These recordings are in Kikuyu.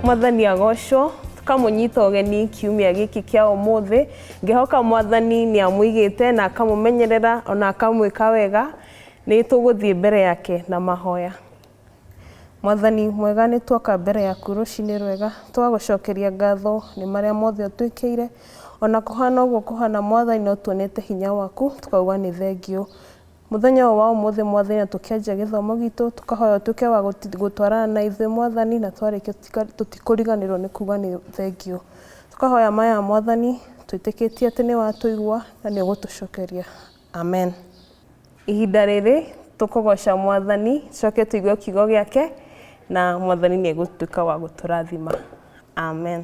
mwathani agocwo tũkamũnyita ũgeni kiumia gĩkĩ kĩa ũmũthĩ ngĩhoka mwathani nĩ amũigĩte na akamũmenyerera ona akamwĩka wega nĩ tũgũthiĩ mbere yake na mahoya Mwathani mwega nĩ tuoka mbere yaku rũcinĩ rwega twagũcokeria ngatho nĩ marĩa mothe ũtwĩkĩire ona kũhana ũguo kũhana mwathani no tuonete hinya waku tũkauga nĩ thengiũ mũthenya ũyũ wa ũmũthĩ mwathani na tũkĩanjia gĩthomo gitũ tũkahoya ũtuĩke wa gũtwarana na ithuĩ mwathani na twarĩkia tũtikũriganĩrwo nĩ kuga nĩ thengiũ tũkahoya maya mwathani twĩtĩkĩtie atĩ nĩ watũigua na nĩ ũgũtũcokeria. Amen. Ihinda rĩrĩ tũkũgoca mwathani coke tũigue kiugo gĩake na mwathani nĩ egũtuĩka wa gũtũrathima amen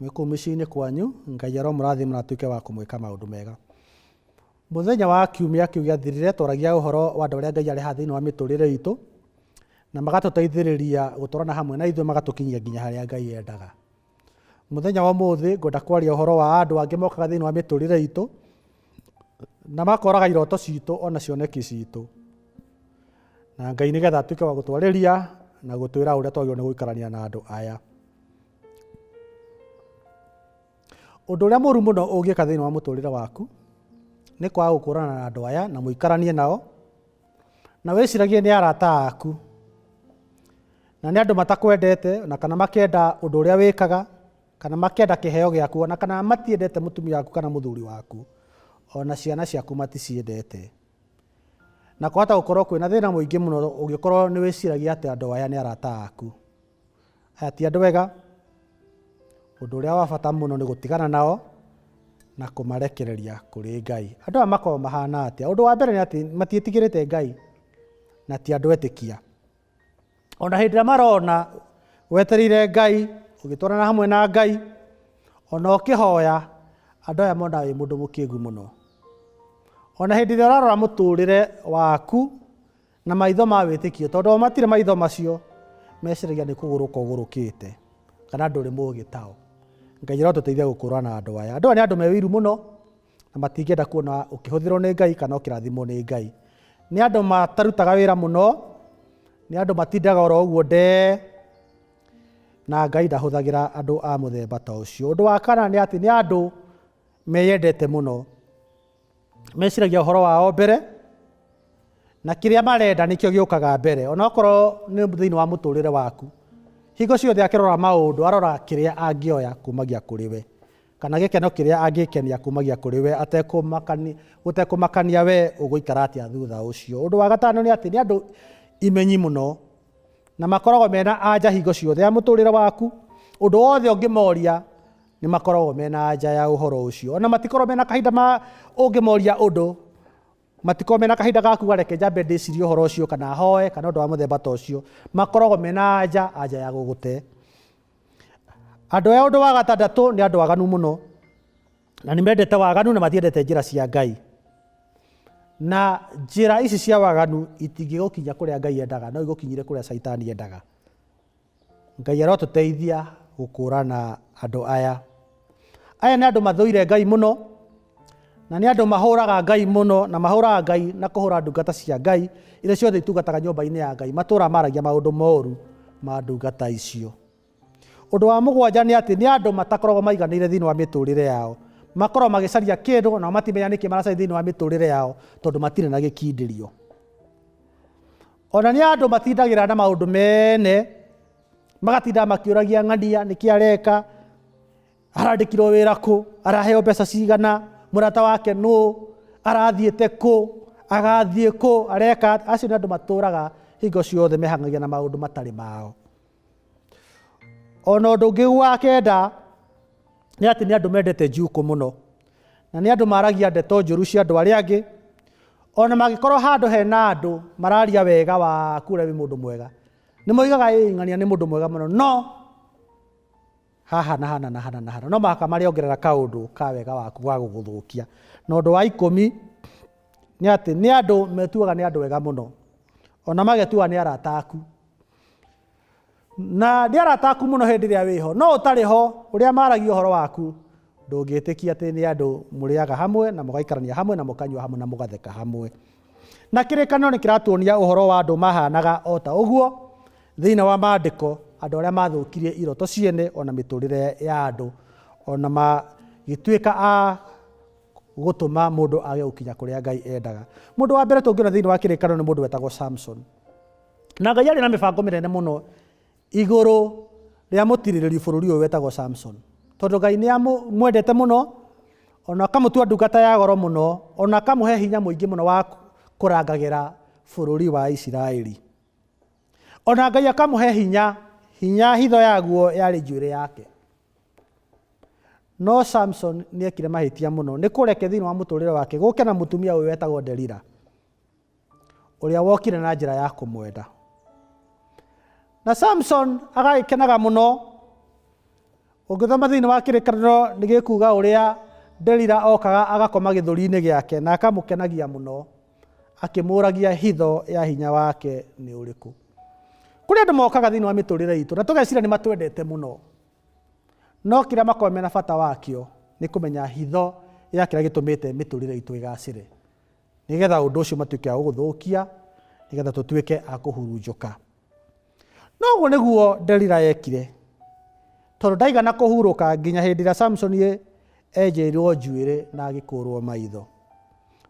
mwĩ kũu mĩciĩ-inĩ kwanyu ngai aromũrathima na atuĩke wa kũmwĩka maũndũ mega mũthenya wa kiumia kĩu gĩathirire twaragia ũhoro wa andũ arĩa ngai areha thĩinĩ wa mĩtũrĩre itũ na magatũteithĩrĩria gũtwarana hamwe na ithuĩ magatũkinyia nginya harĩa ngai endaga mũthenya wa ũmũthĩ ngwenda kwaria ũhoro wa andũ angĩ mokaga thĩinĩ wa mĩtũrĩre itũ na makoraga iroto citũ ona cioneki citũ na ngai nĩgetha atuĩke wa gũtwarĩria na gũtwĩra ũrĩa twagĩrĩirwo nĩ gũikarania na andũ aya Ũndũ ũrĩa mũru mũno ũngĩka thĩinĩ wa mũtũrĩre waku nĩ kwaga gũkũrana na andũ aya na mũikaranie nao na wĩciragie nĩ arata aku na nĩ andũ matakwendete na kana makenda ũndũ ũrĩa wĩkaga kana makenda kĩheo gĩaku ona kana matiendete mũtumia waku kana mũthuri waku ona ciana ciaku maticiendete na kwahota gũkorwo kwĩna thĩna mũingĩ mũno ũngĩkorwo nĩ wĩciragia atĩ andũ aya nĩ arata aku Aya ti andũ ega. Ũndũ ũrĩa wa bata mũno nĩ gũtigana nao na kũmarekereria kũrĩ Ngai. Andũ aya makoragwo mahana atĩa? Ũndũ wa mbere nĩ atĩ matiĩtigĩrĩte Ngai na ti andũ etĩkia. Ona hĩndĩ ĩrĩa marona wetereire Ngai, ũgĩtwarana hamwe na Ngai, ona ũkĩhoya, andũ aya monaga wĩ mũndũ mũkĩgu mũno. Ona hĩndĩ ĩrĩa ũrarora mũtũrĩre waku Na maitho ma wĩtĩkio, tondũ o matirĩ maitho macio, meciragia nĩ kũgũrũka ũgũrũkĩte, kana ndũrĩ mũũgĩ tao. Ngai arotũteithia gũkũũrana na andũ aya. Andũ aya nĩ andũ me ũiru mũno, na matingĩenda kuona ũkĩhũthĩrwo nĩ Ngai kana ũkĩrathimwo nĩ Ngai. Nĩ andũ matarutaga wĩra mũno, nĩ andũ matindaga oro ũguo ndee, na Ngai ndahũthagĩra andũ a mũthemba ta ũcio. Ũndũ wa kana nĩ atĩ nĩ andũ meyendete mũno, meciragia ũhoro wao mbere na kĩrĩa marenda nĩkĩo gĩũkaga mbere onakorwo nĩ thĩinĩ wa mũtũrĩre waku hingo ciothe akĩrora maũndũ arora kĩrĩa angĩoya kumagia kũrĩ we kana gĩkeno kĩrĩa angĩkenia kumagia kũrĩ we gũtekũmakania we ũgũikara atĩa thutha ũcio ũndũ wa gatano nĩ atĩ nĩ andũ imenyi mũno na makoragwo mena anja hingo ciothe ya mũtũrĩre waku ũndũ wothe ũngĩmoria Nĩ makoragwo me na anja ya ũhoro ũcio. O na matikoragwo me na kahinda ma ũngĩmoria ũndũ. Matikoragwo me na kahinda ga kuuga reke njambe ndĩcirie ũhoro ũcio kana hoe kana ũndũ wa mũthemba ta ũcio. Makoragwo me na anja, anja ya gũgũte. Andũ aya ũndũ wa gatandatũ nĩ andũ aganu mũno. Na nĩ mendete waganu na matiendete njĩra cia Ngai. Na njĩra ici cia waganu itingĩgũkinya kũrĩa Ngai endaga, no igũkinyire kũrĩa Caitani endaga. Ngai arotũteithia gũkũrana andũ aya. Aya nĩ andũ mathũire Ngai mũno, na nĩ andũ mahũraga Ngai mũno, na mahũraga Ngai na kũhũra ndungata cia Ngai iria ciothe itungataga nyũmba-inĩ ya Ngai. Matũũraga maragia maũndũ moru ma ndungata icio. Ũndũ wa mũgwanja nĩ atĩ nĩ andũ matakoragwo maiganĩire thĩinĩ wa mĩtũrĩre yao. Makoragwo magĩcaria kĩndũ nao matimenya nĩkĩ maracaria thĩinĩ wa mĩtũrĩre yao tondũ matirĩ na gĩkindĩrio. O na nĩ andũ matindagĩra na maũndũ mene magatinda makĩũragia ng'ania nĩkĩ areka arandĩkirwo wĩra kũ araheo mbeca cigana mũrata wake nũ arathiĩte kũ agathiĩ kũ areka acio nĩ andũ matũraga hingo ciothe mehangagia na maũndũ matarĩ mao ona ũndũ ũngĩ wa kenda nĩ atĩ nĩ andũ mendete njukũ mũno na nĩ andũ maragia ndeto njũru cia andũ arĩa angĩ ona mangĩkorwo handũ hena andũ mararia wega wa kũrĩa wĩ mũndũ mwega nĩ moigaga ĩng'ania nĩ mũndũ mwega mũno no Haha na hana na hana na hana. No mũhaka marĩongerera kaũndũ ka wega waku ga gũgũthũkia. Na ũndũ wa ikũmi nĩ atĩ nĩ andũ metuaga nĩ andũ wega mũno, ona magetuaga nĩ arata aku. Na nĩ arata aku mũno hĩndĩ ĩrĩa wĩho, no ũtarĩ ho ũrĩa maragia ũhoro waku Ndũngĩtĩkia atĩ nĩ andũ mũrĩaga hamwe, na mũgaikarania hamwe, na mũkanyua hamwe, na mũgatheka hamwe. Na kĩrĩkanĩro nĩ kĩratuonia ũhoro wa andũ mahaanaga o ta ũguo thĩinĩ wa Maandĩko, andũ arĩa maathũkirie iroto ciene o na mĩtũũrĩre ya andũ, o na magĩtuĩka a gũtũma mũndũ age gũkinya kũrĩa Ngai endaga. Mũndũ wa mbere tũngĩona thĩinĩ wa kĩrĩkanĩro nĩ mũndũ wetagwo Samson. Na Ngai arĩ na mĩbango mĩnene mũno igũrũ rĩa mũtirirĩri bũrũri ũyũ wetagwo Samson. Tondũ Ngai nĩ amwendete mũno, ona akamũtua ndungata ya goro mũno, ona akamũhe hinya mũingĩ mũno wa kũrangagĩra bũrũri wa Isiraeli. Ona Ngai akamũhe hinya, hinya hitho yaguo yarĩ njuĩrĩ yake. No Samson nĩ ekire mahĩtia mũno, nĩ kũreke thĩinĩ wa mũtũrĩre wake gũke na mũtumia ũyũ wetagwo Delila. ũrĩa wokire na njĩra ya kũmwenda na samson agagĩkenaga mũno ũngĩthoma thĩinĩ wa kĩrĩkanĩro nĩ gĩkuga ũrĩa delila okaga agakoma gĩthũri-inĩ gĩake na akamũkenagia mũno akĩmũragia hitho ya hinya wake nĩ ũrĩkũ kũrĩ andũ mokaga thĩinĩ wa mĩtũrĩre itũ na tũgecira nĩ matwendete mũno no kĩrĩa makorwo mena bata wakĩo nĩ kũmenya hitho ya kĩrĩa gĩtũmĩte mĩtũrĩre itũ ĩgacĩre nĩ getha ũndũ ũcio matuĩke a gũgũthũkia, nĩ getha tũtuĩke a kũhurunjũka. No ũguo nĩguo Delila yekire, tondũ ndaigana kũhurũka nginya hĩndĩ ĩrĩa Samsoni enjeirwo njuĩrĩ na agĩkũrwo maitho.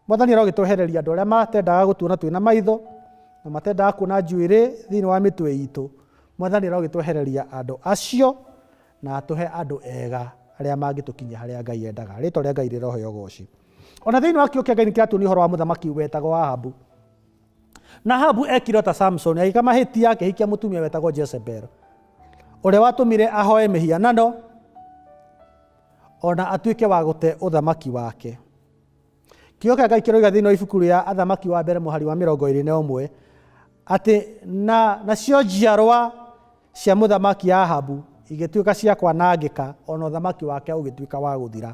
Mwathani arogĩtwehereria andũ arĩa matendaga gũtuona twĩna maitho na matendaga kuona njuĩrĩ thĩinĩ wa mĩtwe itũ. Mwathani arogĩtwehereria andũ acio na atũhe andũ ega arĩa mangĩtũkinyia harĩa Ngai endaga. Rĩtwa rĩa Ngai rĩroheo goci. o na thĩinĩ wa kiugo kĩa ngai nĩ kĩratuonia ũhoro wa mũthamaki wetagwo ahabu na ahabu ekire ta samson agĩka mahĩtia akĩhikia mũtumia wetagwo jezebel ũrĩa watũmire ahoe mĩhianano ona atuĩke wa gũte ũthamaki wake kiugo kĩa ngai kĩroiga thĩinĩ wa ibuku rĩa athamaki wa mbere mũhari wa mĩrongo ĩrĩ na ũmwe atĩ na nacio njiarwa cia mũthamaki ahabu igĩtuĩka cia kwanangĩka ona ũthamaki wake ũgĩtuĩka wa gũthira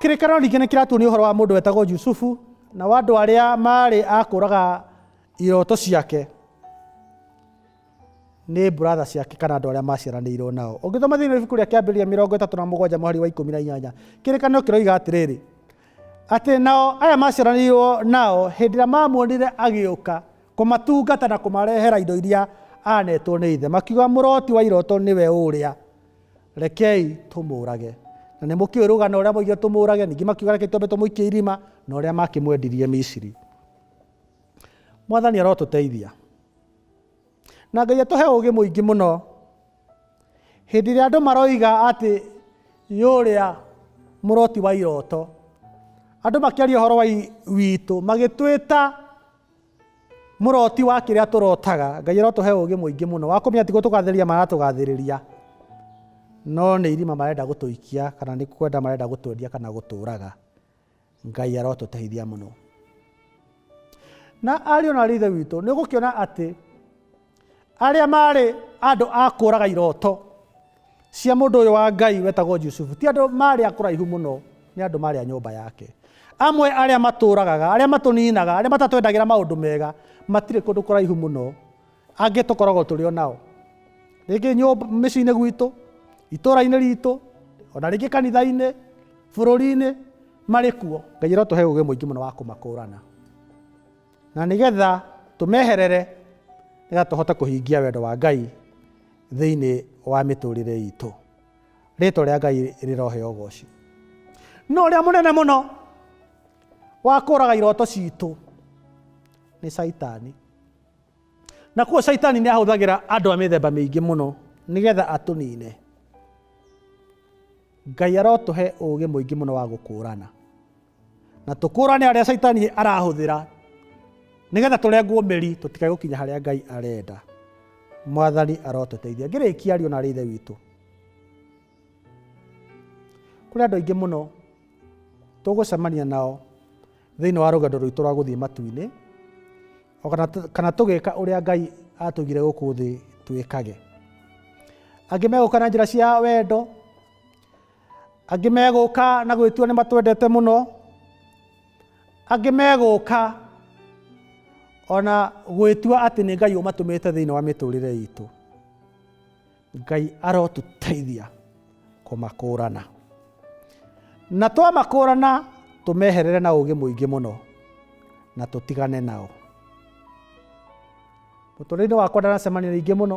Kĩrĩkanĩro ningĩ nĩ kĩratuonia ũhoro wa mũndũ wetagwo Yusufu na wa andũ arĩa maarĩ akũraga iroto ciake nĩ brother ciake kana andũ arĩa maciaranĩirwo nao ũngĩthoma thĩinĩ wa ibuku rĩa kĩambĩrĩria mĩrongo ĩtatũ na mũgwanja mũhari wa ikũmi na inyanya kĩrĩkanĩro kĩroiga atĩrĩrĩ atĩ nao aya maciaranĩirwo nao hĩndĩ ĩrĩa mamuonire agĩũka kũmatungata na kũmarehera indo iria anetwo nĩ ithe makiuga mũroti wa iroto nĩwe ũrĩa Rekei tũmũũrage. Na nĩ mũkĩũĩ rũgano ũrĩa moigire tũmũũrage, ningĩ makiuga rekei twambe tũmũikie irima, na ũrĩa makĩmwendirie Misiri. Mwathani arotũteithia. Na Ngai atũhe ũũgĩ mũingĩ mũno. Hĩndĩ ĩrĩa andũ maroiga atĩ yũrĩa mũroti wa iroto, andũ makĩaria ũhoro wa witũ magĩtwĩta Mũroti wa kĩrĩa tũrotaga, Ngai arotũhe ũgĩ mũingĩ mũno wa kũmenya tigwo tũgathĩrĩria maratũgathĩrĩria, no nĩ irima marenda gũtũikia kana nĩ kwenda marenda gũtwendia kana gũtũraga. Ngai arotũteithia mũno. Na ariũ na ariũ ithe witũ, nĩ ũgũkĩona atĩ arĩa maarĩ andũ a kũraga iroto cia mũndũ ũyũ wa ngai wetagwo jusufu ti andũ maarĩ a kũraihu mũno nĩ andũ maarĩ a nyũmba yake amwe arĩa matũragaga arĩa matũninaga arĩa matatwendagĩra maũndũ mega matirĩ kũndũ kũraihu mũno angĩ tũkoragwo tũrĩ o nao rĩngĩ nyũmba mĩciĩ-inĩ gwitũ itũra-inĩ ritũ ona rĩngĩ kanitha-inĩ bũrũri-inĩ marĩ kuo ngai arotũhe ũgĩ mũingĩ mũno wa kũmakũrana Na nĩ getha tũmeherere, nĩ getha tũhote kũhingia wendo wa Ngai thĩinĩ wa mĩtũrĩre itũ. Rĩtwa rĩa Ngai rĩroheo ũgoci. No ũrĩa mũnene mũno wa kũraga iroto citũ nĩ caitani. Na kuo caitani nĩ ahũthagĩra andũ a mĩthemba mĩingĩ mũno nĩ getha atũnine. Ngai arotũhe ũũgĩ mũingĩ mũno wa gũkũrana. na tũkũrane arĩa caitani arahũthĩra nĩgetha tũrengwo mĩri tũtikae gũkinya harĩa ngai arenda mwathani arotũteithia ngĩrĩkia ariũ na arĩ ithe witũ kũrĩ andũ aingĩ mũno tũgũcemania nao thĩinĩ wa rũgendo rwitũ rwa gũthiĩ matu-inĩ o kana tũ- kana tũgĩka ũrĩa ngai atũigire gũkũ thĩ twĩkage angĩ megũka na njĩra cia wendo Angĩ megũka na gwĩtua nĩ matwendete mũno, angĩ megũka ona gwĩtua atĩ nĩ Ngai ũmatũmĩte thĩinĩ wa mĩtũrĩre itũ. Ngai arotũteithia kũmakũrana. Na twamakũrana tũmeherere na ũgĩ mũingĩ mũno na tũtigane nao. Mũtũrĩre-inĩ wakwa ndanacemania na ingĩ mũno,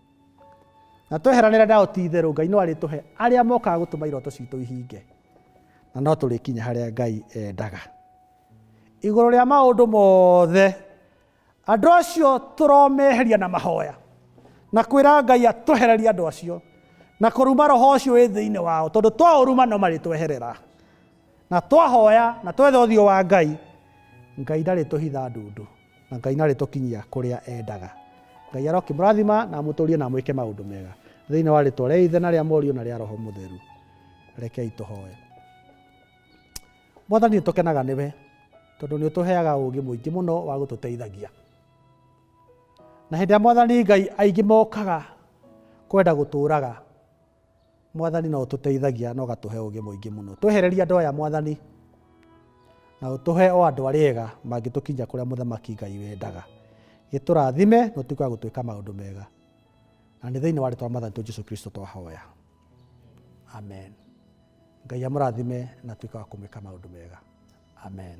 na tweheranĩre nao ti itherũ ngai no arĩtũhe arĩa mokaga gũtũma iroto citũ ihinge na no tũrĩkinya harĩa ngai endaga igũrũ rĩa maũndũ mothe andũ acio tũromeheria na mahoya na kwĩra ngai atũhererie andũ acio na kũruma roho ũcio wĩ thĩinĩ wao tondũ twaũruma no marĩtweherera na twahoya na twetha ũthiũ wa ngai ngai ndarĩtũhitha ndundu Na Ngai narĩtũkinyia kũrĩa endaga. Ngai arokĩmũrathima na amũtũrie na amwĩke maũndũ mega. Thĩinĩ wa rĩtwa rĩa Ithe na rĩa Mũriũ na rĩa Roho Mũtheru. Rekei tũhoe. Mwathani nĩtũkenaga nĩwe tondũ nĩũtũheaga ũũgĩ mũingĩ mũno wa gũtũteithagia. Na hĩndĩ ya Mwathani Ngai aingĩ mokaga kwenda gũtũũraga. Mwathani no ũtũteithagia na ũgatũhe ũgĩ mũingĩ mũno. Twehereria andũ aya Mwathani na ũtũhe o andũ arĩa ega mangĩtũkinyia kũrĩa mũthamaki Ngai wendaga. Gĩtũrathime na ũtuĩke wa gũtwĩka maũndũ mega. Na nĩ thĩinĩ wa rĩtwa Mwathani tu Jesu Kristo twahoya. Amen. Ngai amũrathime na tuĩke wa kũmwĩka maũndũ mega. Amen.